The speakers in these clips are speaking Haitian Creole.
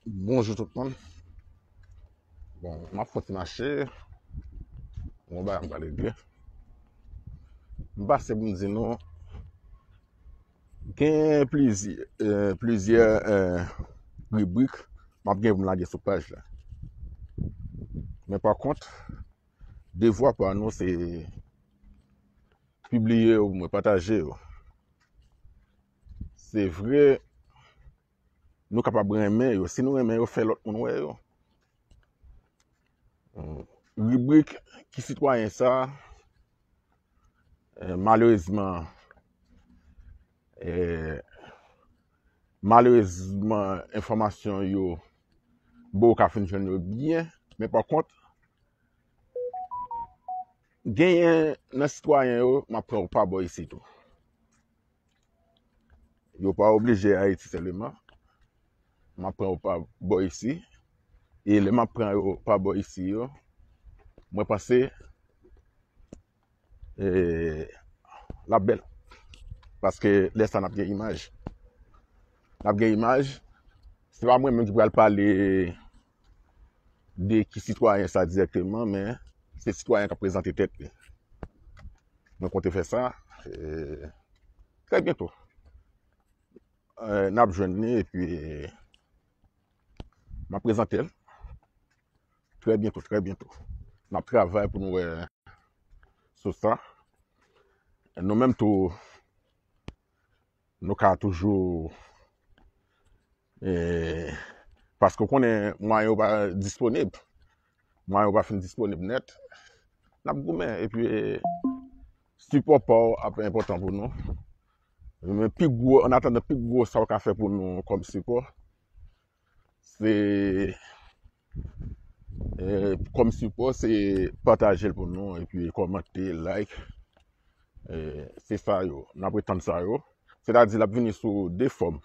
Bonjou tout moun. Bon, m ap fòt mache. Mwen ba yon pale de. M pase pou m di nou. Gen plizi, euh, plizi euh, euh, ribrik m ap gen pou m lage sou paj la. Men pa kont, devwa pa nou se pibliye ou mwen pataje ou. Se vre Nou kapab renmen yo si nou renmen yo fè lòt moun wè yo Ribrik Ki sitwayen sa a Malerezman Malerezman enfòmasyon yo bon ou ka fin jwenn yo byen men pa kont genyen nan sitwayen yo m ap pran ou pa bò isit ou. Yo pa oblije Ayiti sèleman. M ap pran yo pa bò isi. E lè m ap pran yo pa bò isi yo, mwen panse e l ap bèl. Paske lè sa a n ap gen imaj. N ap gen imaj. Se pa mwen menm ki pral pale. de ki sitwayen sa dirèkteman men se sitwayen kap prezante tèt li. Mwen konte fè sa e trè byento n ap jwenn li epi m ap prezante l trè byento, trè byento. N ap travay pou nou wè sou sa. Nou menm tou Nou ka toujou e paske w konnen mwayen yo pa disponib. Mwayen yo pa fin disponib nèt. N ap goumen epi sipò pa w ap enpòtan pou nou. Men pi gwo, an atandan pi gwo sa w ka fè pou nou kòm sipò se. Kòm sipò se patajel pou nou epi kòmante, like se sa yo n apre tann sa yo se ta di l ap vini sou 2 fòm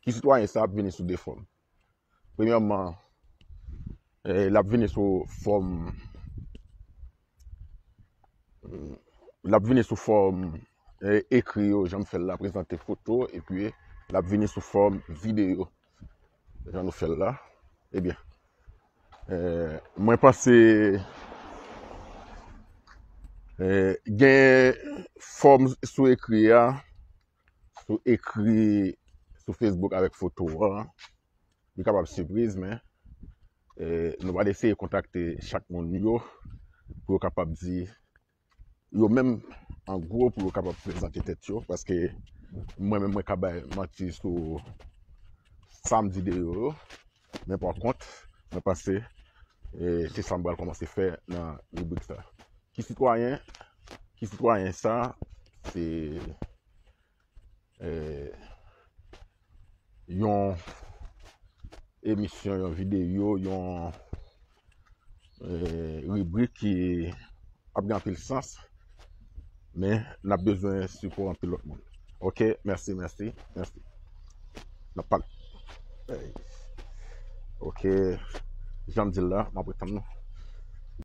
ki sitwayen sa ap vini sou 2 fòm premyèman l ap vini sou fòm l ap vini sou fòm ekri yo jan m fè l la prezante foto epi l ap vini sou fòm videyo. Jan nou fèl la. Ebyen. Mwen panse. Gen fòm sou ekri a. Sou ekri. Sou Facebook avèk foto a. Li kapab sipriz men. Nou va deseye kontakte chak moun yo. Pou yo kapab di. yo menm an gwo pou yo kapab prezante tèt yo paske mwen menm mwen ka bay manti sou sa m di de yo yo men pa kont mwen panse e se sa m pral kòmanse fè nan ribrik sa ki sitwayen ki sitwayen sa se yon emisyon, yon videyo, yon ribrik ki ap gen anpil sans, men n ap bezwen sipò anpil lòt moun. Ok, mèsi, mèsi, mèsi. N ap pale. Ok, janm di l la, m ap retann nou.